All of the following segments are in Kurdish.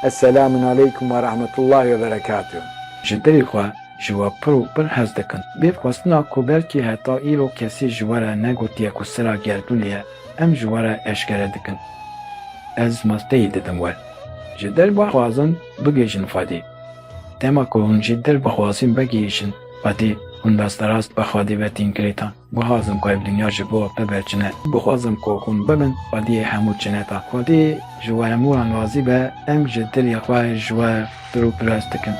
Eselamun aleykum ve rahmetullahi ve berekatuh. Ji dilê xwe ji we pir û pir hez dikim. Bê xwestina ku belkî heta îro kesî ji we re negotiye ku sira gerdûnê ye, em ji we re eşkere dikin. Ez malteyî didim we. Ji dil bixwazin bigihîjin Xwedê. Dema ku hûn ji dil bixwazin vegihîjin Xwedê, hûn rasterast bi Xwedê ve tîn girêdan. Guhazim ku ev dinya ji bo bibe çine. Guhazim ku hûn bibin xwediyê hemû çineta. Xwedî ji we hemû wan razî be, em ji dilê xwe ji we pir û pirs dikin.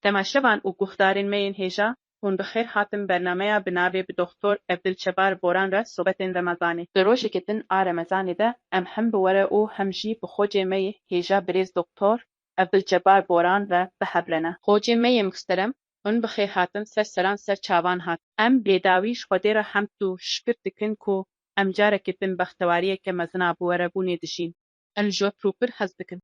Temaşevan û guhdarên me yên hêja, hûn bi xêr hatin bernameya bi navê Bi Doxtor Evdil Çebar Boran re sobetên remezanê. Di rojekê din a remezanê de em hem bi were û hem jî bi xocê me yê hêja birêz Doxtor Evdulcebar Boran ve bihevrene. Xocê me yê mixterem hûn bi xêr hatin ser seran ser çavan hat. Em bêdawî ji Xwedê re hemd û şikir dikin ku em carekê din bextewariyeke mezin a bi werebûnê dijîn. Em ji we pir û pir hez dikin.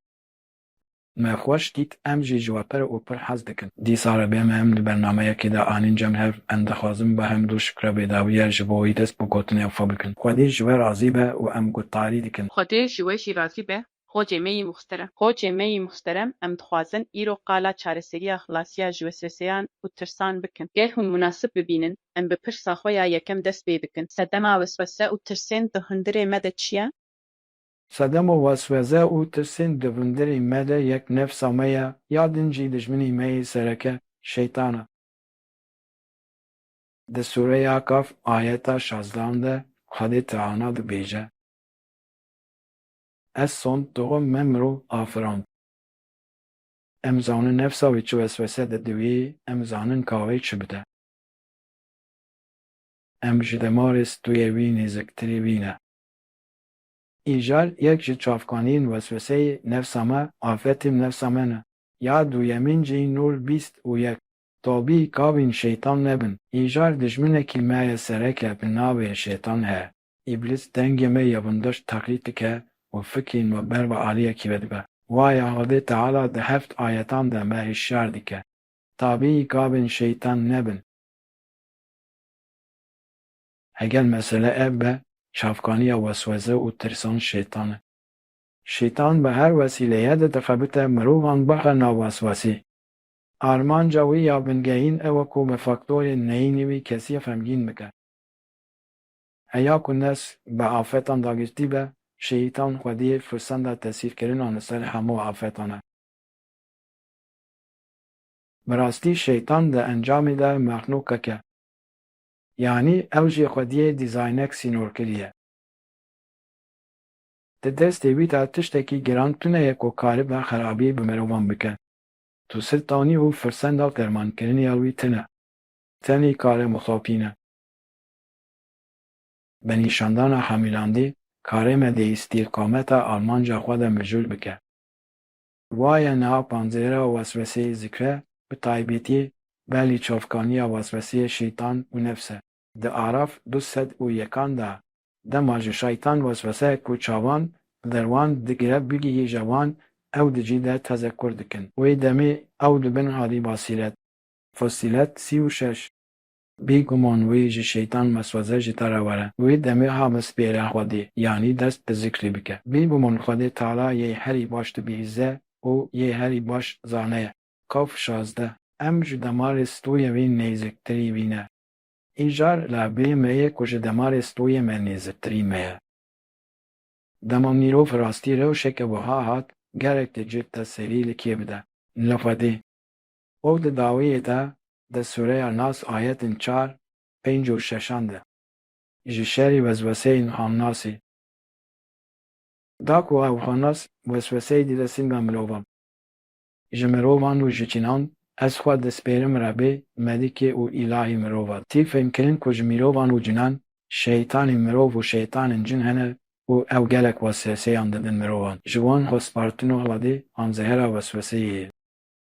Me xweş dît em jî ji we pir û pir hez dikin. Dîsa re bê me em di bernameyekê de anîn cem hev. Em dixwazin bi hemd û şikre bêdawiye ji bo wî dest bi gotinê xwe bikin. Xwedê ji we razî be û em gotdarî dikin. Xwedê ji we jî razî be Xocê me yî muxterem. Xocê me yî muxterem, em dixwazin îro qala çareseriya xilasiya ji wesweseyan û tirsan bikin. Ger hûn munasib bibînin, em bi pirsa xwe ya yekem dest pê dikin, Sedema weswese û tirsên di hundirê me de çi ye? Sedema weswese û tirsên di hundirê me de yek nefsa me ye, ya din jî dijminê me yê sereke Şeytan e. Di sûreya Kaf ayeta şazdehan de Xwedê Teana dibêje. Ez sond dixwim me mirov afirand. Em zanin nefsa wî çi weswese didiwî, em zanin ka wê çi bide. Em ji demarê stûyê wî nêziktirî wî ne. Îcar yek ji çavkaniyên wesweseyê nefsa me, afetên nefsa me ne. Ya duyemîn jî nol bîst û yek. Tabî kabîn şeytan nebin. Îcar dijminekî me ye sereke bi navê şêtan he. Îblis dengê me ya bindoş teqlîd dike û fikirên me ber bi aliyekî ve dibe. Waya Xwedê Teala di heft ayetan de me hişyar dike, Tabîî gavên şeytan nebin. Heger mesele ev be, çavkaniya weswese û tirsan şeytan e. Şeytan bi her wesîleyê de dixebite mirovan bixe nav weswesê. Armanca wî ya bingehîn ew e ku bi faktorên neyînî wî kesî xemgîn bike. Heya ku nes bi afetan dagirtî be, şehîtan xwediyê firsenda tesîrkirinan li ser hemû afetan e. Bi rastî şehîtan di encamê de mexlûqek e. Yanî ew jî xwediyê dîzaynek sînor kiriye. Di destê wî de tiştekî giran tune ye ku karibe xerabî bi mirovan bike. Tu siltanî û firsenda dermankirinê ya wî tune. Tenê kare mixapîn e. Bi nîşandana hemîlandî karê me di îstîqameta armanca xwe de mijûl bike. Wa ye niha panzêra wesweseyê zikre, bi taybetî belî çavkaniya wesweseyê şeytan û nefs e. Di Araf du sed û yekan de dema ji şeytan wesweseyek ku çavan li derwan digire bigihîje wan, ew di cî de tezekur dikin. Wê demê ew di bin hadî basîret. Fussilet sî û şeş. Bêguman wê ji Şeytan meswaze ji te re were. Wê demê a bispêre Xwedê, yanî dest bi zikrê bike. Bêguman Xwedê Teala yê herî baş dibihîze û yê herî baş zane ye. Kaf şazdeh. Em ji demarê stoyê wê nêziktirî wî ne. Îcar la bê me ye ku ji demarê stoyê me nêziktirî me ye. Dema mirov rastî rewşeke wiha hat, gerek dicût te serî li kê bide? Li Xwedê. Û di dawiyê de di sûreya Nas ayetên çar, pênc û şeşan de. Ji şerî wesweseyên xamnasî. Da ku ev xamnas wesweseyê dide singa mirovan. Ji mirovan û ji çînan ez xwe dispêrim Rebê, Melikê û Îlahê mirovan. Tî fêmkirin ku ji mirovan û cinan şeytanên mirov û şeytanên cin hene û ew gelek wesweseyan didin mirovan. Ji wan xwe spartin û Xwedê hamzehera wesweseyê ye.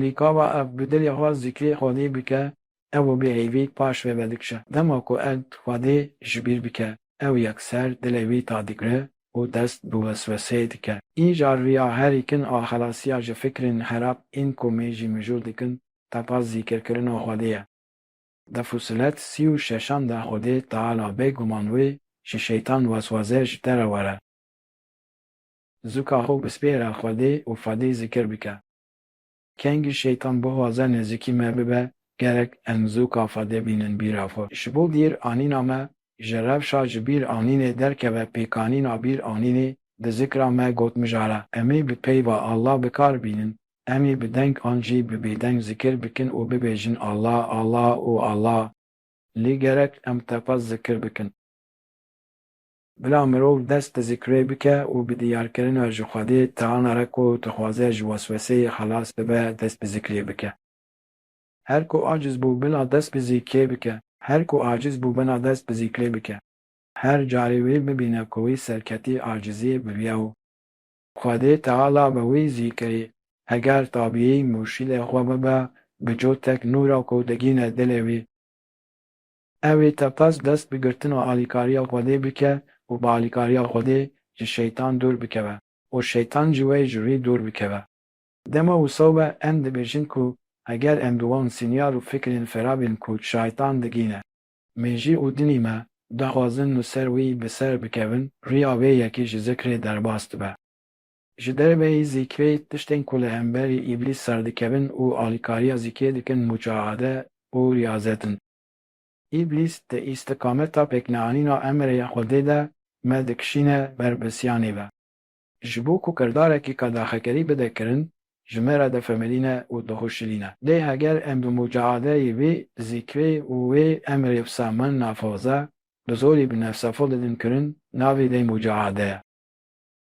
Lê ka va ev bi dilê xwe zikrê Xwedê bike, ew û bêhêvî paş vê ve dikişe. Dema ku erd Xwedê ji bîr bike, ew yekser dilê wî ta digire û dest bi wesweseyê dike. Îcar riya herî kin a xelasiya ji fikrên xerab ên ku me jî mijûl dikin, tepa zîkirkirina Xwedê ye. Di Fusilet sî û şeşan de Xwedê Teala bê guman wê ji şeytan weswese ji te re were. Zûka xwe bispêre Xwedê û Xwedê zikir bike. Kengî şeytan bixwaze nêzîkî me bibe, gerek em zû kafadê bînin bîra xwe. Ji bo bîr anîna me ji rewşa ji bîr anînê derkeve pêkanîna bîr anînê di zikra me got mijara emê bi peyva Allah bi kar bînin, emê bi deng an jî bi bêdeng zikir bikin û bibêjin Allah, Allah û Allah. Lê gerek em tepa zikir bikin. Bila mirov dest bi zikrê bike û bi diyarkirina ji Xwedê tana re ku dixwaze ji wesweseyê xelas bibe dest bi zikrê bike. Her ku aciz bû bila dest bi zikrê bike, her ku aciz bû bila dest bi zikrê bike. Her carê wî bibîne ku wî serketî aciziyê biviya û Xwedê teala bi wî zîkirî heger tabiyî mûrşîdê xwe bibe bi cotek nûra ku digîne dilê wî. Ew ê tepes dest bi girtina alîkariya Xwedê bike û bi alîkariya Xwedê ji Şeytan dûr bikeve û Şeytan ji wê ji wî dûr bikeve. Dema wisa be em dibêjin ku heger em bi wan sînyal û fikrên fera bên ku Şeytan digîne, mejî û dinî me daxwazin li ser wî bi ser bikevin, riya wê yekî ji zikrê derbas dibe. Ji derveyî zîkê tiştên ku li hemberî îblîs serdikevin û alîkariya zîkê dikin mucaade û riyazet in. Îblîs di îstiqameta pêkneanîna emrê ya Xwedê de me dikişîne ber bisiyanê ve. Ji bo ku kirdarekî qedaxekerî bide kirin, ji me re difemilîne û dixuşilîne. Lê heger em bi mucaadeyê vî zîkê û wê emrê wisa min nafoze, bi zorî bi nefsa xwe didin kirin, navê vê mucaadeye.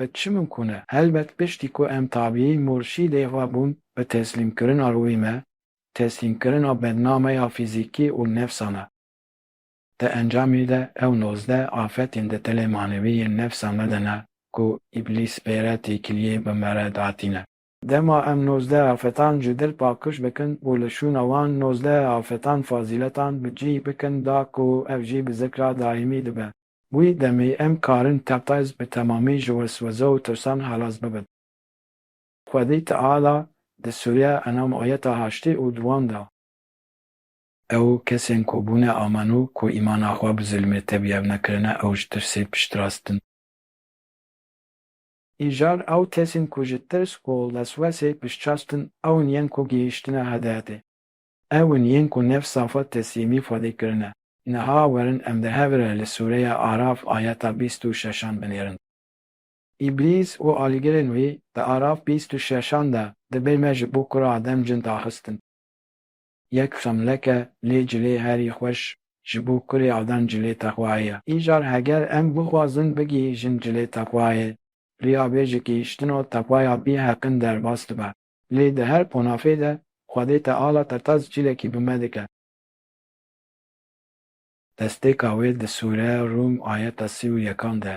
Bi çi mimkûn e? Helbet piştî ku em tabîyî murşîdê xwe bûn bi teslîmkirina rûyê me, teslîmkirina bendname ya fîzîkî û nefsa me. Di encamê de ew nozdeh afetên di tilê manevî yên nefsa me de ne ku îblîs pêre têkiliyê bi me re datîne. Dema em nozdeh afetan ji dil pakiş bikin û li şûna wan nozdeh afetan fazîletan bi cîh bikin da ku ev jî bi zikra daîmî dibe. Wî demê em karin Tepes bi temamî ji wesweze û tirsan xelas bibin. Xwedî Teala di Sûriye enam ayeta haştî û duwan da. Ew kesên ku bûne amano ku îmana xwe bi zilmê tebiyev nekirine ew ji tirsê piştrast in. Îcar ew kesên ku ji tirs û leswesê piştrast in ewn yên ku gihiştine hedefê. Ew in yên ku nef safa teslîmî xwedê kirine. Niha werin em di hev re li sûreya Araf ayeta bîst û şeşan binêrin. Îblîs û alîgirên wî di Araf bîst û şeşan de dibê me ji bo kura Adem cin daxistin. Yek xemleke lê cilê herî xweş ji bo kurê Adem cilê texwayê ye. Îcar heger em bixwazin bigihîjin cilê texwayê, riyabêjikî ştino texwaya bî heqin derbas dibe. Lê di her qonafê de Xwedê te ala te tas cilekî bi me dike. Destpêka wê di sûre Rûm ayeta sî û yekan de.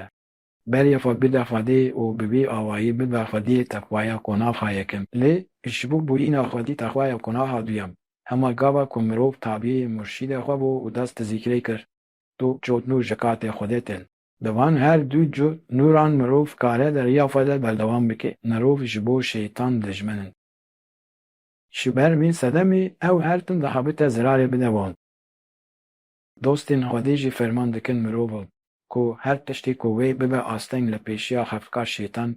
Beriya xwe bide Xwedê û bi vî awayî bibe Xwediyê te xwaya qonaxa yekem. Lê ji bo bûyîna Xwedî te xwaya qonaxa duyem. Hema gava ku mirov tabî murşîdê xwe bû û dest di zîkrê kir, tu çot nû ji katê Xwedê tên. Di van her du cur nûran mirov kare di riya xwe de berdewam bike. Mirov ji bo şeytan dijmin in. Ji ber vî sedemê ew her tim dihabite zirarê bide wan. Dostên Xwedê jî ferman dikin mirovan ku her tiştê ku wê bibe asteng li pêşiya xefkar şeytan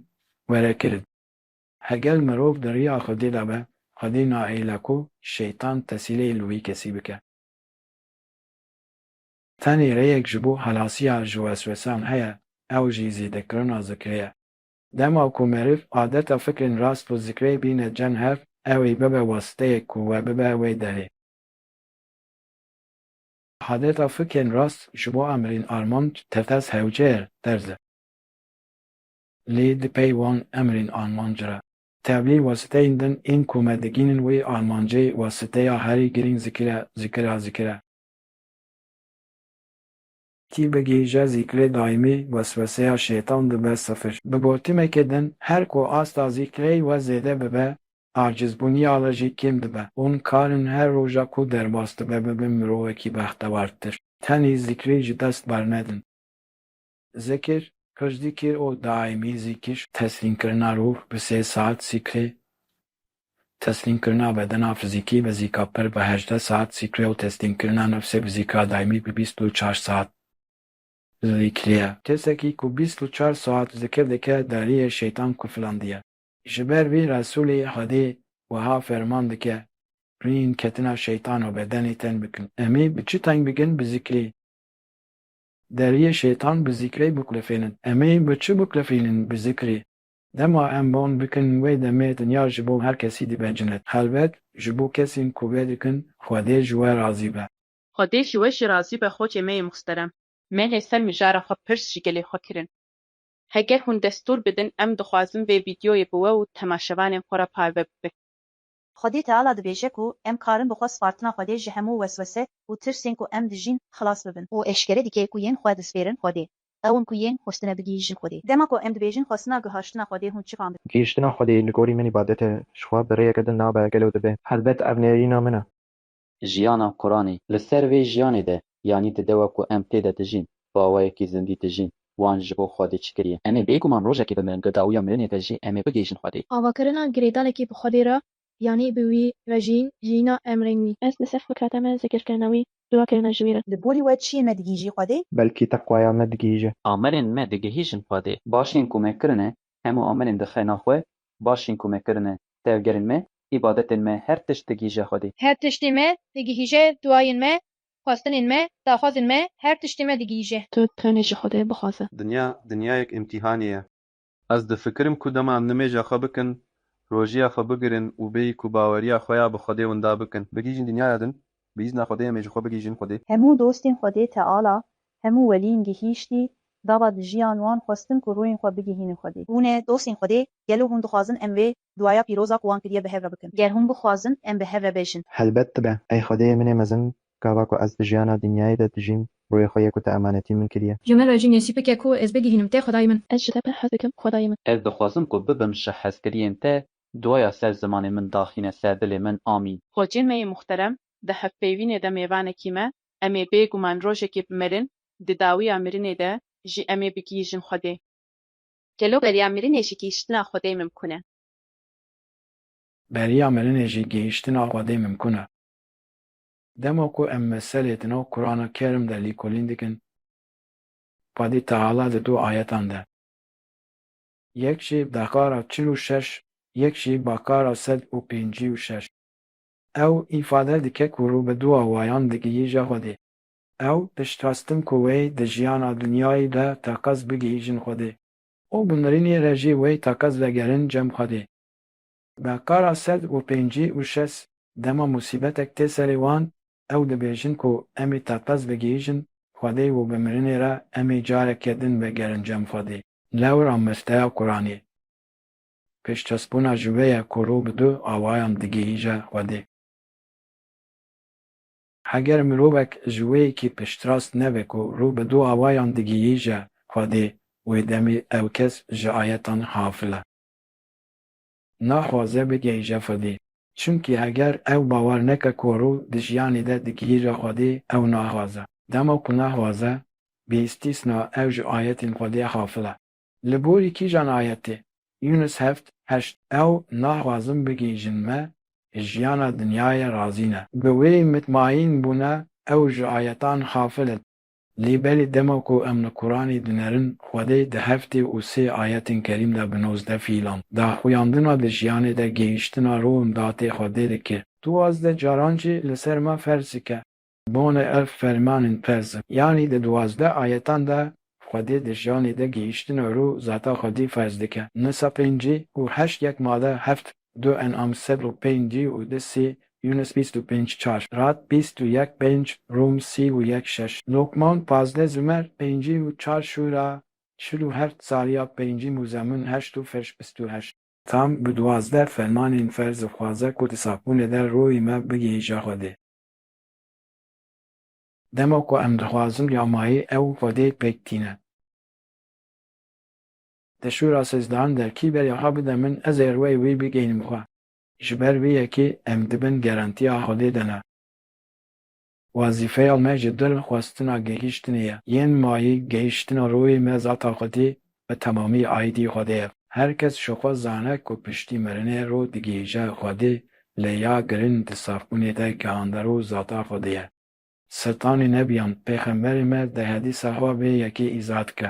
were kirin. Hegel mirov di riya Xwedê de be, Xwedê naêle ku şeytan tesîleyê li wî kesî bike. Tenê rêyek ji bo xelasiya ji weswesan heye, ew jî zêdekirina zikrê ye. Dema ku meriv adeta fikrên rast û zikrê bîne cem hev, ew ê bibe wasiteyek ku we bibe wê derê. Adeta fikrên rast ji bo emrên armanc tetes hewcer terz e. Lê di pey wan emrên armanc re, tevlî wasiteyên din ên ku me digihînin wê armancê, wasiteya herî girîng zikir e, zikir a zikir e. Tî bigihîje zîkrê daîmî, wesweseya şêtan dibe sifir. Bi gotimekê din, her ku asta zîkrey we zêde bibe, acizbûniya we jî kêm dibe. Hûn karin her roja ku derbas dibe bibin mirovekî bextewartir. Tenê zîkrê ji dest bernedin. Zikir, pir zikir û daîmî zikir. Teslîmkirina rûh bi sê saet zikrê. Teslîmkirina bedena fizîkî bi zîka pir bi hejdeh saet zikrê û teslîmkirina nefsê bi zîka daîmî bi bîst û çar saet zikrê. Kesekî ku bîst û çar saet zikir dike deriyê şeytan kufilandiye. Ji ber vî Resûlê Xwedê wiha ferman dike, Rîn ketina şeytan û bedenê ten bikin. Emî bi çi teng bikin? Bi zikrê. Deriyê şêtan bi zîkrê biqulifênin. Em ê bi çi biqulifînin? Bi zikrê. Dema em ban bikin wê demê dinya ji bo her kesî dibecinit. Helbet ji bo kesên ku vê dikin Xwedê ji we razî be. Xwedê ji we jî razî be Xocê me yê muhterem. Me lê ser mijara xwe pirs ji gelê xwe kirin. Heger hûn destûr bidin em dixwazin vê vîdyoyê bi we û temaşevanên xwe re parve bibe. Xwedê Teala dibêje ku em karin bi xwe spartina Xwedê ji hemû weswese û tirsên ku em dijîn xilas bibin. Û eşkere dike ku yên xwe dispêrin Xwedê. Ew in ku yên xwestine bigihîjin Xwedê. Dema ku em dibêjin xwestina gihaştina Xwedê hûn çikan dikin? Gihîştina Xwedê li gorî min îbadet e, ji xwe bi rêyeke din nabe gelo dibe. Helbet ev nêrîna min e. jiyana Quran e. Li ser vê jiyanê de yanî di dewa ku em tê de dijîn, baweyekî zindî dijîn. Wan ji bo Xwedê çi kiriye? Em ê bêguman rojekê bimirin, di dawiya mirinê de jî em ê bigihîjin Xwedê. Avakirina girêdalekî bi Xwedê re yanî bi wî re jiyîn, jiyîna emrên wî. Ez li ser fikreta me zikirkirina wî, dûakirina ji wî re. Li gorî we çiyê me digihîjî Xwedê? Belkî teqwaya me digihîje. Amerên me digihîjin Xwedê. Başiyên ku me kirine Hemû amelên di xena xwe başîn ku me kirine tevgerên me, îbadetên me her tişt digihîje Xwedê. Her tiştî me digihîje duayên me, xwestinên me, daxwazên me her tiştî me digihîje. Tu tenê ji Xwedê bixwaze. Dinya dinyayek îmtîhanê ye. Ez difikirim ku dema nimêja xwe bikin, rojiya xwe bigirin û bêyî ku baweriya xwe ya bi Xwedê winda bikin, bigihîjin dinyaya din Bi îzna Xwedê em ê ji xwe bigihîjin Xwedê. Hemû dostên Xwedê Teala, hemû welîn gihîştî, dava dijiyan wan xwestin ku rûyên xwe bigihînin Xwedê. Hûn e dostên Xwedê, gelo hûn dixwazin em vê duaya pîroza ku wan kiriye bi hev re bikin? Ger hûn bixwazin em bi hev re bejin. Helbet dibe. Ey Xwedê min ê mezin, gava ku ez di jiyana dinyayê de dijîm, rûyê xwe yê ku tu emanetî min kiriye. Ji min re jî nesîb bike ku ez bigihînim te Xwedayê min. Ez ji te pir hez dikim Xwedayê min. Ez dixwazim ku bibim ji hezkiriyên te Duaya ser zimanê min daxîne ser dilê min amîn. Xwecê me yê muxterem di hevpeyvînê de mêvanekî me, em ê bê guman rojekê bimerin, di dawiya mirinê de jî em ê bigihîjin Xwedê. Gelo beriya mirinê jî gihîştina Xwedê mimkun e? Beriya mirinê jî gihîştina Xwedê mimkun e. Dema ku em meselê di nav Kurana Kerim de lîkolîn dikin, Xwedî Teala di du ayetan de. Yek jî bakara çil û şeş, yek jî bakara sed û pêncî û şeş. Ew îfade dike ku rû bi du awayan digihîje Xwedê. Ew piştxwestin ku wê di jiyana dinyayî de teqez bigihîjin Xwedê û bi mirinê re jî wê teqez vegerin cem Xwedê. Ga kara sed û pêncî û şes dema musîbetek tê serê wan, ew dibêjin ku em ê teqez bigihîjin Xwedê û bi mirinê re em ê careke din vegerin cem Xwedê. Lewr a mesteya Quranê, pêşkesbûna ji wê ye ku rû bi du awayan digihîje Xwedê. Heger mirovek ji wê yekî piştrast nebe ku rû bi du awayan digihîje Xwedê, wê demê ew kes ji ayetan xafil e. naxwaze bigihîje Xwedê. Çimkî heger ew bawer neke ku rû di jiyanê de digihîje Xwedê ew naxwaze. Dema ku naxwaze, bê îstîsna ew ji ayetên Xwedê xafil e. Li gorî kîjan ayetê? Yûnus heft, heşt, Ew naxwazin bigihîjin me ji jiyana dinyayê razî ne. Bi wê mitmaîn bûne ew ji ayetan xafil in. Lê belê dema ku em li Quranê dinerin, Xwedê di heftê û sê ayetên kerîm de bi nozdeh fîlan, daxuyandina di jiyanê de gehîştina ro û datê Xwedê dike. Tu wazdeh caran jî li ser me ferz dike. Bonê ev fermanên ferz in. Yanî di duwazdeh ayetan de Xwedê di jiyanê de gehîştina ro û zata Xwedê ferz dike. Nisa pêncî û heşt yek mala heft. Du enam sed û pêncî û du sî Yûnis bîst û pênc çar Rad bîst û yek pênc Rûm sî û yek şeş Lokman pazdeh Zûmer pêncî û çar Şûra çil û heft Zarîab pêncî Mûzemûn heşt û Firş bîst û heşt. Tam bi duwazdeh fermanên ferz dixwaze ku di sapûnê de rûyê me bigihîje Xwedê. Dema ku em dixwazin ya mayî ew Xwedê pêk tîne. Di şûra sezdahan de kî ber yaxa bide min ez ê rweyê wî bigeynim xwe. Ji ber vê yekê em di bin garantiya Xwedê de ne. Wezîfeya me ji dil xwestina gihîştinê ye. Yên mayî gihîştina rûyê me zata Xwedê bi temamî aîdî Xwedê ye. Her kes ji xwe zane ku piştî mirinê rû digihîje Xwedê lê ya girin di safbûnê de gihande rû zata Xwedê ye. Setanê nebiyan pêxemberê me di hedîsa xwe vê yekê îzah dike.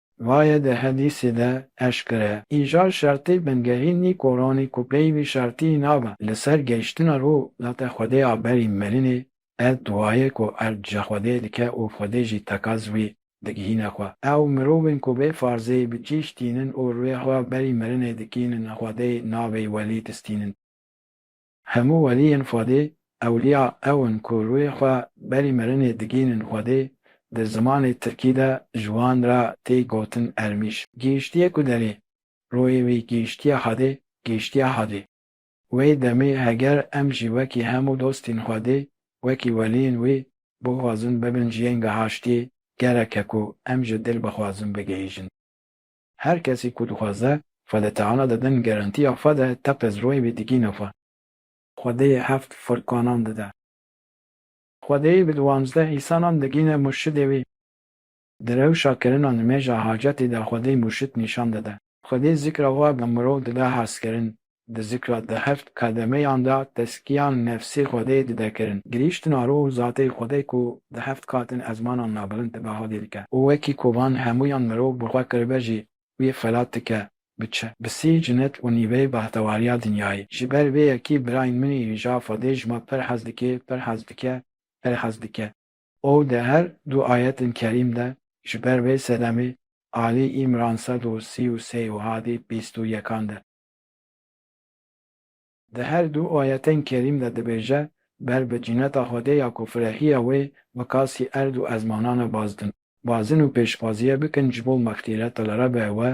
Vaye di hedîsî de eşkere ye. Îjar şertî bingehîn nî koranî ku pey vî şertî nabe li ser gehîştina rû date Xwedê a berî mirinê erd duaye ku erd ji Xwedê dike û Xwedê jî tekaz wî digihîne xwe. Ew mirovên ku bê farzê bi kîş tînin û rûyê xwe berî mirinê dikînin Xwedê navê welî distînin. Hemû weliyên Xwedê ewliya ew in ku rûyê xwe berî mirinê digihînin Xwedê, di zimanê tirkî de ji wan re tê gotin ermîj. Gihîştiyê ku derê, rûyê wî gihîştiye Xwedê, gihîştiye Hadê. Wê demê heger em jî wekî hemû dostên Xwedê, wekî weliyên wî bixwazin bibin jiyên gihaştiyê, gerek e ku em ji dil bixwazin bigihîjin. Her kesî ku dixwaze xwe li Teala de din gerentiya xwe de teqez royê wî digîne xwe. Xwedê heft furkanan dide. Xwedê bi diwanzdeh îsanan digîne murşidê wî. Di rewşa kirina nimêja hacetî de xwedê murşid nîşan dide. Xwedê zikra xwe bi mirov dide hestkirin. Di zikra di heft kademeyan de teskiyan nefsê Xwedê dide kirin. Girîştina rû û zatê Xwedê ku di heft katin ezmanan nabilind dibe hadê dike û wekî ku van hemûyan mirov bi xwe kiribe jî wî xelat dike bi çi, bi sî cinet û nîveyê behtewariya dinyayê. Ji ber vê yekî birayên min î hîja Xwedê ji me pir hez dikê, pir hez dike, pir hez dike. Û di her du ayetên kerîm de ji ber vê sedemê Alî î miran sed û sî û sê û hadî bîst û yekan de Di her du ayetên kerîm de dibêje, Ber bi cineta Xwedê ya ku firehiya wê bi kasî erd û ezmanan e bazdin. Bazin û pêşxwaziye bikin ji bo mexfîreta li Rebê we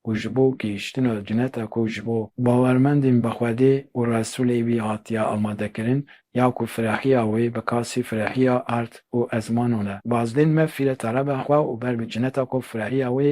û ji bo gihîştina cineta ku ji bo bawermendên bi Xwedê û Resûlê wî hatiye amadekirin ya ku firehiya wê bi kasî firehiya erd û ezmanan e. Bazdin mefîreta Rebe xwe û ber bi cineta ku firehiya wê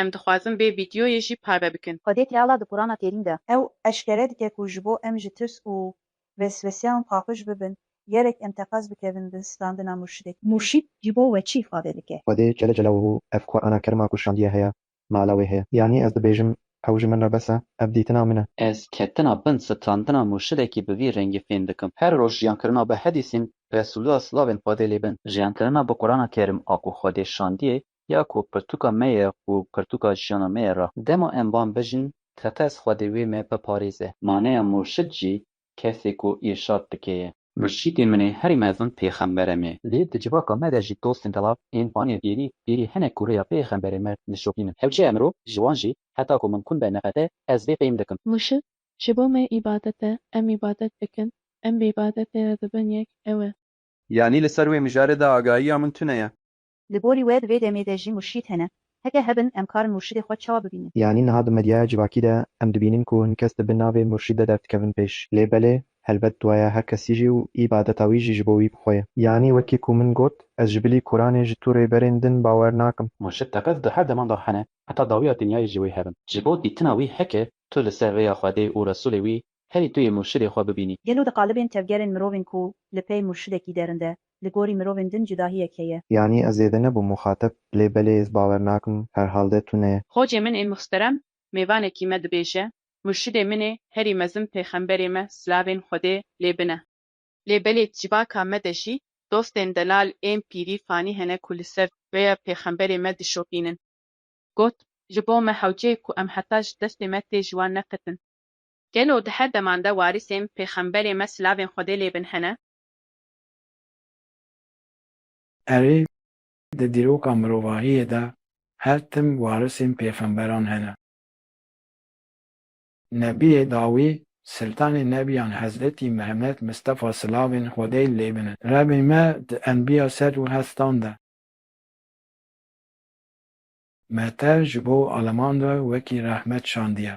Em dixwazin vê vîdyoyê jî parve bikin. Xwedê Teala di Qurana Kerîm de. Ew eşkere dike ku ji bo em ji tirs û wesweseyan paqij bibin, gerek em teqez bikevin bin standina murşidek. Murşîd ji bo we çi îfade dike? Xwedê Celle Celaluhu ev Qurana Kerima ku şandiye heye, mala wê heye. Yanî ez dibêjim ew ji min re bes e, ev dîtina min e. Ez ketina bin standina murşidekî bi vî rengî fêm dikim. Her roj jiyankirina bi hedîsên Resûlullah silavên Xwedê lê bin. Jiyankirina bi Qurana Kerim a ku Xwedê şandiye ya ku pirtûka me ye û pirtûka jiyana me ye ra. Dema em van bijîn, Tepez Xwedê wê me biparêze. Maneya murşid jî kesê ku îrşad dike ye. Murşidê min ê herî mezin pêxembere me. Lê di civaka me de jî dostên belav ên vanê pîrî pîrî hinek ku rêya pêxemberê me dişopînin. Ew çiya mirov ji wan jî heta ku min kum be neqete ez vê fehm dikim. Murşid ji bo me îbadet e, em îbadet dikin, em bi îbadetê re dibin yek, ew e. Yanî li ser wê mijarê de agahiya min tune ye. Li gorî we di vê demê de jî murşîd hene? Heke hebin em karin murşidê xwe çawa bibînin? Yanî niha di medyaya civakî de em dibînin ku hin kes dibi navê murşîd de derdikevin pêş. Lê belê, helbet duaya her kesî jî û îbadeta wî jî ji bo wî bi xwe ye. Yanî wekî ku min got, ez ji bilî Kuranê ji tu rêberên din bawer nakim. Murşîd teqez di her deman de hene heta dawiya dinyayê ji wê hebin. Ji bo dîtina wî heke tu li ser rêya Xwedê û Resûlê wî Herî tu yê murşidê xwe bibînî. Gelo di qalibên tevgerên mirovên ku li pey murşidekî derin de, li gorî mirovên din cudahiyek heye? Yanî ez zêde nebûm muxateb, lê belê ez bawer nakim, herhalde tune. Xocê min ê muhsterem mêvanekî me dibêje, murşidê min ê herî mezin pêxemberê me silavên Xwedê lê bine. Lê belê civaka me de jî dostên delal ên pîrî fanî hene ku li ser rêya pêxemberê me dişopînin. Got, Ji bo me hewce ye ku em heta ji destê me tê ji wan neqetin. Gelo di her deman de warîsên pêxemberê me silavên Xwedê lê bin hene? Erê, di dîroka mirovahiyê de her tim warisên pêxemberan hene. Nebiyê dawî, siltanê nebiyan Hezretî Mihemed Mistefa silavên Xwedê lê bin e. Rebê me di enbiya sed û heztan de me te ji bo aleman re wekî rehmet şandiye.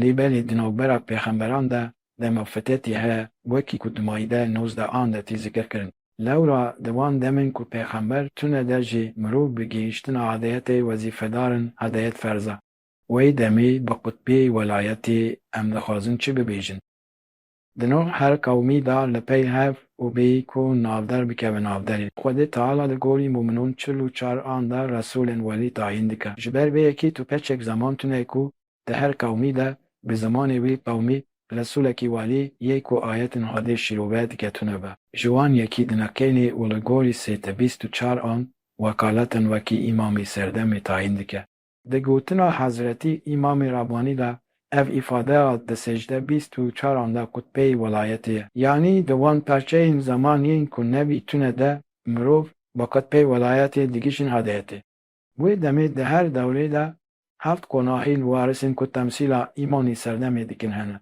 Lê belê di navbera pêxemberan de dema fitetî heye wekî ku di Maîde nozdeh an de tî zikir kirin. Lewra di wan demên ku pêxember tune de jî mirov bi gihîştina hedeyetê wezîfedar in, hedeyet ferz e. Wey demê bi qutbê welayetê em dixwazin çi bibêjin? Di no her qewmî de li pey hev û bê ku navder bikeve navderî. Xwedê Teala di gorî mûminûn çil û çar an de Resûlên welî tayîn dike. Ji ber vê yekî tu keçek zeman tune ku di her qewmî de bi zimanê wî qewmî Resûlekî welî yê ku ayetên Xwedê şîrove dike tune be. Ji wan yekî dineqênî û li gorî sêtebîst û çar an wekaletên wekî Îmamî Serdemî tayîn dike. Di gotina Hezretî Îmamê Rabanî de ev îfadeya di secde bîst û çaran de qutbeyê welayetê ye. Yanî di wan perçeyên zeman yên ku nebî tune de mirov bi qutbeyê welayetê digihîjin hadeyetê. Wê demê di her dewrê de heft qonahî li warisên ku temsîla Îmamê Serdemê dikin hene.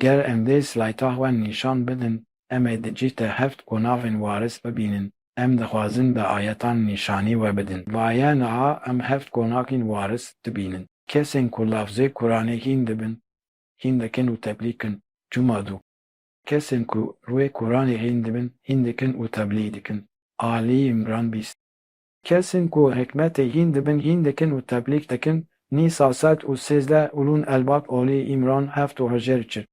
Ger em vê slayta xwe nîşan bidin, em ê di cîh de heft qonavên waris bibînin. Em dixwazin bi ayetan nîşanî we bidin. Vaye niha em heft qonakîn waris dibînin. Kesên ku lafzê Kuranê hîn dibin, hîn dikin û teblîkin. Cuma du. Kesên ku rûyê Kuranê hîn dibin, hîn dikin û teblî dikin. Alî Îmran bîst. Kesên ku hikmetê hîn dibin hîn dikin û teblîg dikin, Nîsa sed û sêzdeh Ulûn Elbab Olî Îmran heft û hejêr çil.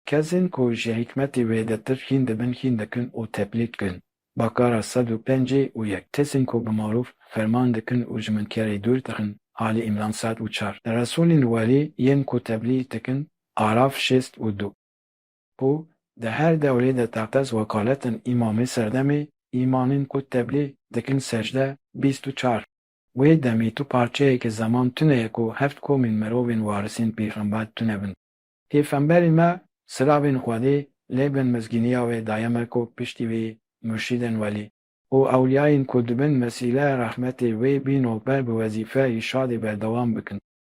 Kesên ku ji hikmetê wêdetir hîn dibin hîn dikin û teblîg dikin, Bakara sed û pêncî û yek. Kesên ku bi marûf ferman dikin û ji munkerê dûr dixin, Alî Îmran sed û çar. Resûlên welî yên ku teblîg dikin, Araf şêst û du. Ku di her dewrê de teqez wekaletên îmamê serdemê îmanên ku teblî dikin secde bîst û çar. Wê demê tu parçeyekê zeman tune ye ku heft komên mirovên warisên pêxember tune bin. Pêfemberê me silavên Xwedê lê bin mizgîniya wê daye me ku piştî wî murşîdên welî û ewliyayên ku dibin wesîle rehmetê wê bîno ber bi wezîfe îrşadê berdewam bikin.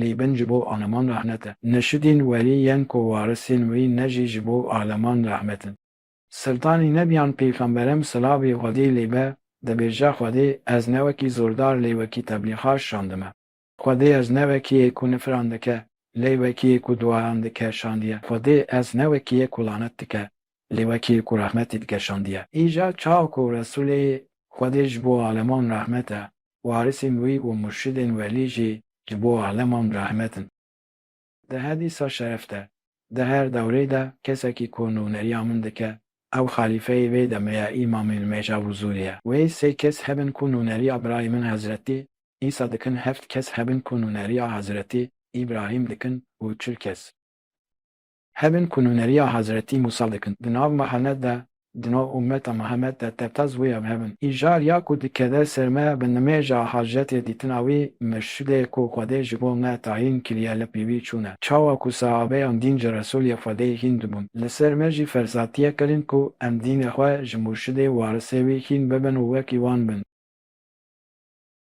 lê bin ji bo aleman rehmet e. Neşidîn werî yên ku warisên wî ne jî ji bo aleman rehmet in. Siltanî nebiyan pêxemberem silavê Xwedê lê be, dibêje Xwedê ez ne wekî zordar lê wekî teblîxar şandime. Xwedê ez ne wekî yê ku nifiran dike lê wekî yê ku duayan dike şandiye. Xwedê ez ne wekî yê ku lanet dike lê wekî yê ku rehmetê dike şandiye. Îcar çawa ku Resûlê Xwedê ji bo aleman rehmet e, Warisên wî û murşidên welî jî ji bo aleman rehmet in. Di hedîsa şeref de, di her dewrê de kesekî ku nûneriya min dike, ew xelîfeyê vê demê ye Îmamê Nimêja Huzûrî ye. Wê sê kes hebin ku nûneriya birayê min Hezretî Îsa dikin, heft kes hebin ku nûneriya Hezretî Îbrahîm dikin û çil kes. Hebin ku nûneriya Hazretî Mûsa dikin, di nav Mihemed de, di nav ummeta Mihemed de tevta zûya bi hebin. Îcar ya ku dikeve ser me bi nimêja hajetê dîtina wî, mirşidê ku Xwedê ji bo me tayîn kiriye li pîvî çûne. Çawa ku sehabeyan dîn ji Resulê Xwedê hîn dibûn, li ser me jî ferzatiyek kirin ku em dînê xwe ji mûrşidê, warisê wî hîn bibin û wekî wan bin.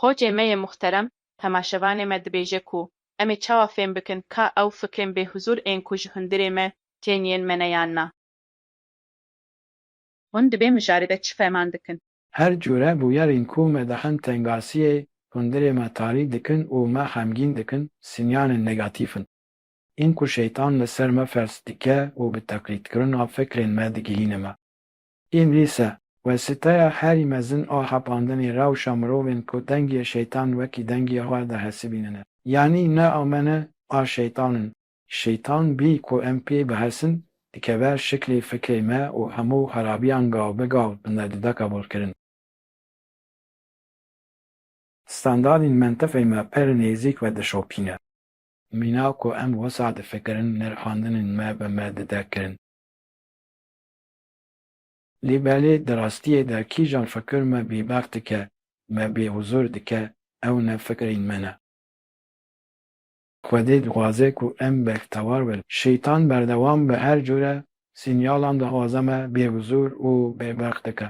Qocê me yê muhterem temaşevanê me dibêje ku em ê çawa fêm bikin ka ew fikrên bêhuzûr ên ku ji hundirê me tên yên me ne yan na. Hûn di vê mijarê de çi fehman dikin? Her cure bûyerên ku me dixin tengasiyê hundirê me tarî dikin û me xemgîn dikin, sinyanên negatîf in. Ên ku şeytan li ser me fers dike û bi teqlîdkirina fikrên me digihîne me. Ên dîsa, wesîteya herî mezin a xapandinê rewşa mirovên ku dengiyê şeytan wekî dengiyê xwe dihesibînine, yanî ne a me ne a şeytan in, şeytan bî ku em pê bihesin, dikeve şiklê fikrê me û hemû xerabiyan gav bi gav binde dide qebûlkirin. Standardên mentiqê me pir nêzîk ve dişopîne. Mîna ku em wisa difikirin nirxandinên me bi me dide kirin. Lê belê di rastiyê de kîjan fikir me bêbax dike, me bêhuzur dike ew ne fikrên me ne. Xwedê dixwaze ku em bektewar bin. Şeytan berdewam bi her cure sinyalan dixwaze me bêhuzur û bêbax dike.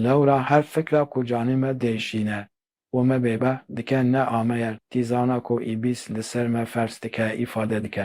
Lewra her fikra ku canê me dê şîne û me bêbah dike ne ameyer tîzana ku îbîs li ser me ferz dike îfade dike.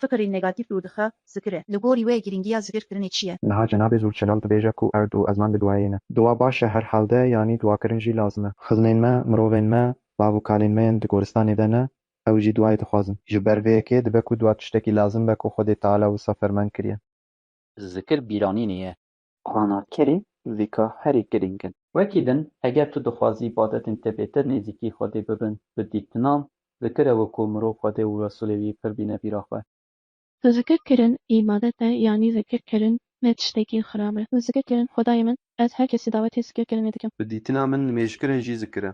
Fikirên negatîf dûr dixe zikirê. Li gorî wê girîngiya zikirkirinê çi ye? Niha cenabê Zûlçelal dibêje ku erd û ezman bi duayê ne. Dua baş e her hal de yanî duakirin jî lazim e. Xizmên me, mirovên me, bav û kalên me yên di goristanê de ne, ew jî duayê dixwazin. Ji ber vê yekê dibe ku dua tiştekî lazim be ku Xwedê Teala wisa ferman kiriye. Zikir bîranînê ye. Qanatkerê vîka herî girîng in. Wekî din, eger tu dixwazî badetên te bêtir nêzîkî Xwedê bibin, bi dîktinan, zikir e wekû mirov Xwedê û Resûlê wî pir bîne bîra xwe. Zikir kirin îbadet e yanî zikir kirin ne tiştekî xirab e. Zikir kirin Xwedayê min, ez her kesî dawetê zikir kirinê dikim. Bi dîtina min nimêjkirin jî zikir e.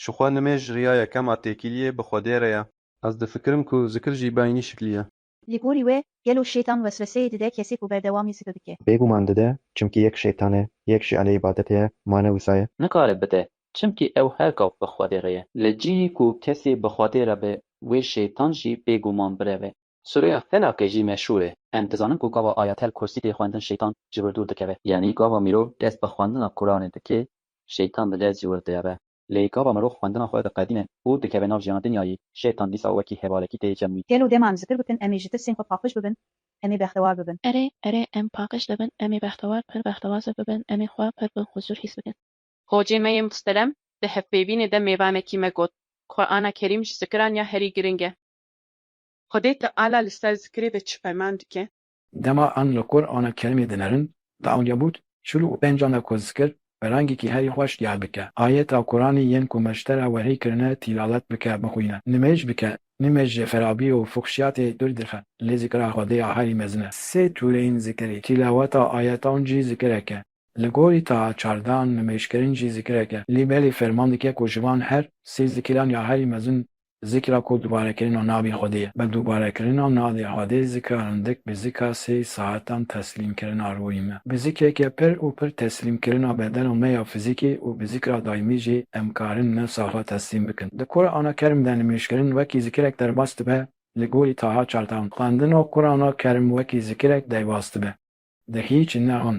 Ji xwe nimêj riya yekem a têkiliyê bi Xwedê re ye. Ez difikirim ku zikir jî bi eynî şiklî ye. Li gorî we gelo şêtan wesweseyê dide kesê ku berdewamî zidu dike? Bêguman dide, çimkî yek şêtan e, yek jî aleyê badetê ye, mane wisa ye. Nikare bide, çimkî ew her gav bi Xwedê re ye. Li cihê ku kesê bi Xwedê re be, wê şêtan jî bêguman bireve. Sûreya Felakê jî meşhûr e. Em dizanin ku gava Ayatel Kursî tê xwendin şêtan ji wir dûr dikeve. Yanî gava mirov dest bi xwendina Quranê dike, şêtan bi dest ji wir dieve. Lê gava mirov xwendina xwe diqedîne û dikeve nav jiyana dinyayê, şêtan dîsa wekî hevalekî tê cem wî. Gelo dêma em ji tir bikin, em ê ji tirsên xwe paqij bibin, em ê bextewar bibin. Erê, erê, em paqij dibin, em ê bextewar, pir bextewaze bibin, em ê xwe pir bi huzur hîs bikin. Xocê me yê mustelem di hevpêvînê de mêvanekî me got, Qur'ana Kerîm ji zikiran ya herî giring e. Xwedê Teala li ser zikirê de çi ferman dike? Dema an li kor ana kerimê dinerin, di awniya bût, şûlû û pêncan de ku zikir bi rengekî herî xweş diyar bike, ayeta Quranê yên ku meştera wehî kirine tîlavet bike, bixwîne, nimêj bike, nimêj ji xerabî û fuxşiyatê dûr dixe, lê zikira Xwedê ya herî mezin e. Sê tûreyên zikirê, tîlaweta ayetan jî zikirek e, li gorî taha çardeh an nimêjkirin jî zikirek e, lê belê ferman dike ku ji van her sê zikiran ya herî mezin Zikra ku dubarekirina navê Xwedê ye. Bi dubarekirina navê Xwedê zikra rindik bi zikra sê saetan teslîmkirina ruhê me, bi zikreke pir û pir teslîmkirina bedena me ya fizîkî û bi zikra daîmî jî em karin nefsa xwe teslîm bikin. Di Qurana Kerim de nimêjkirin wekî zikirek derbas dibe li gorî Taha çartan. Xwendina Qurana Kerim wekî zikirek deybas dibe. Di hîç ne hon.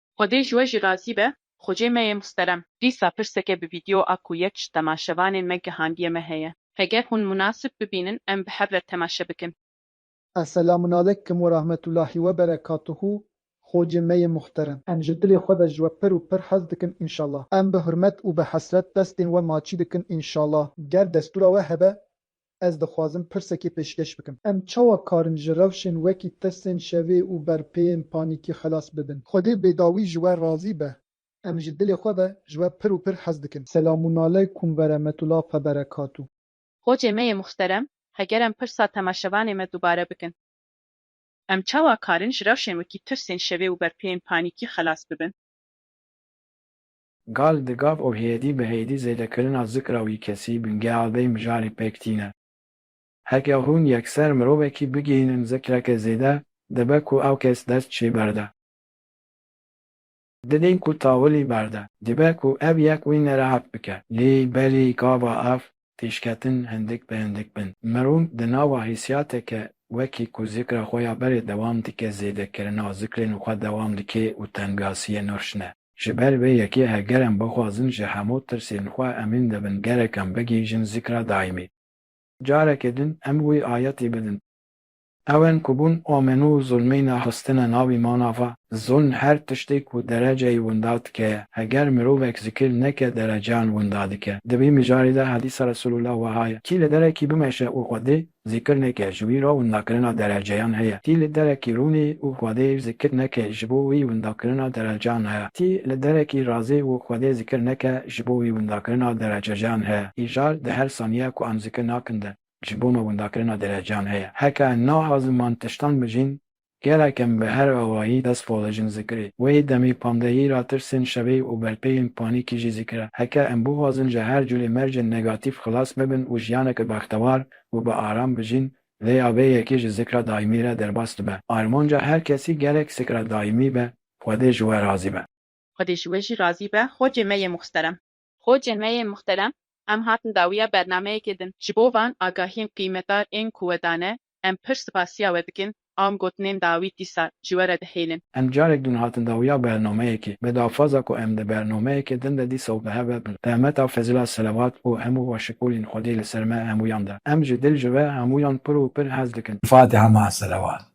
Xwedê ji we jî razî be xwecê me yê musterem. Dîsa pirseke bi vîdeo a ku yek ji temaşevanên me gihandiye me heye. Heger hûn munasib bibînin em bi hev re temaşe bikin. Eselamunalekum werahmetulahî weberekatuhu xwecê me yê muhterem. Em ji dilê xwe ve ji we pir û pir hez dikin înşala. Em bi hurmet û bi hesret destên we maçî dikin înşala. Ger destûra we hebe Ez dixwazim pirsekê pêşkeş bikim. Em çawa karin ji rewşên wekî tirsên şevê û berpêyên panîkî xelas bibin? Xwedê bêdawî ji we razî be. Em ji dilê xwe ve ji we pir û pir hez dikin. Selamûnaleykum veremetula feberekatu. Hocê me yê muxterem, heger em pirsa temaşevanê me dubare bikin. Em çawa karin ji rewşên wekî tirsên şevê û berpêyên panîkî xelas bibin? Gal di gav û hêdî bi hêdî zêdekirina zikra wî kesî bingeha vê mijarê pêk tîne. Heke hûn yekser mirovekî bigihînin zikreke zêde, dibe ku ew kes dest çê berde. Didîn ku tawilî berde. Dibe ku ev yek wî nerehet bike. Lê belê gava ev pêşketin hindik bi hindik bin. Mirov di nava hîsiyateke wekî ku zikra xwe ya berê dewam dike zêdekirina zikrên xwe dewam dike û tengasiyê nirşne. Ji ber vê yekê heger em bixwazin ji hemû tirsên xwe emîn dibin gerek em bigihîjin zikra daîmî. Carekê din em wî ayetî bidin. Ewên ku bûn omenû û zulmî nexistine nav îmana xwe. Zulm her tiştê ku dereceyî winda dike ye. Heger mirovek zikir neke dereceyan winda dike. Di vî mijarê de hedîsa Resûlullah weha ye, Kî li derekî bimeşe û xwedê Zêkirineke ji wî re windakirina dereceyan heye. Tî li derekî rûnî û Xwedê zikir neke ji bo wî windakirina dereceyan heye. Tî li derekî razî û Xwedê zikir neke ji bo wî windakirina derecejean heye. Îcar di her saniye ku em zikir nakin de ji bo me windakirina dereceyan heye. Heke naxwazin man tiştan bijîn, Gelek em bi her awayî dest pala jin zikirê. Wê demê pandehî ra tirsên şevê û berpeyên panîkî jî zikire. Heke em bixwazin ji her curê mercên negatîf xilas bibin û jiyaneke bextewar û bi aram bijîn, lê ya vê yekê ji zikra daîmî re derbas dibe. Armanca her kesî gelek zikra daîmî be, Xwedê ji we razî be. Xwedê ji we jî razî be, Xwecê me yê muxsterem. Xocê me yê muhterem, em hatin dawiya bernameyekê din. Ji bo van agahiyên qîymetdar ên ku we dane, em pir sipasiya we dikin, am gotinên dawî dîsa ji we re dihêlin. Em carek din hatin dawiya bernameyekê. Bi daxwaza ku em di bernameyekê din de dîsa û bi hev ve bin. Rehmeta fezila selewat û hemû başikolên Xwedê li ser me hemûyan de. Em ji dil ji we hemûyan pir û pir hez dikin. Fatiha Ma'a Selewat.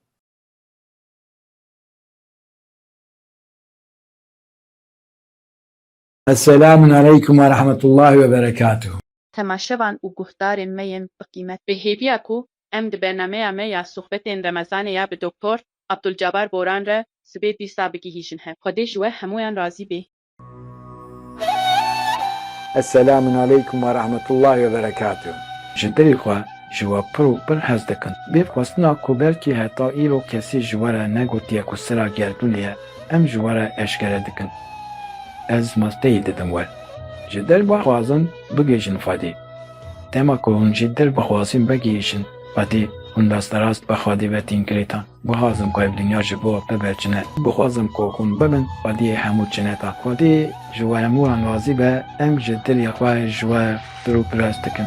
Eselamun aleykum ve rahmetullahi ve berekatuhu. Temaşevan û guhdarên me yên bi qîmet. Bi hêviya ku em di bernameya me ya sohbetên Remezanê ya bi Doktor Abdulcabar Boran re sibê dîsa bigihîjin hev. Xwedê ji we hemûyan razî bê. Eselamun aleykum ve rahmetullahi ve berekatuhu. Ji dilê xwe ji we pir û pir hez dikim. Bêxwestina ku belkî heta îro kesî ji we re negotiye ku sira gerdûnê ye, Em ji we re eşkere dikin. Ez masteyî didim we. Ji dil bixwazin bigihîjin Xwedê. Dema ku hûn ji dil bixwazin vegihîjin Xwedê, hûn rasterast bi Xwedê ve tîn girêtan. Bixwazim ku ev dinya ji bo bibe cine. Bixwazim ku hûn bibin Xwediyê hemû cineta. Xwedê ji we hemû an razî be, em ji dilê xwe ji we firû piras dikin.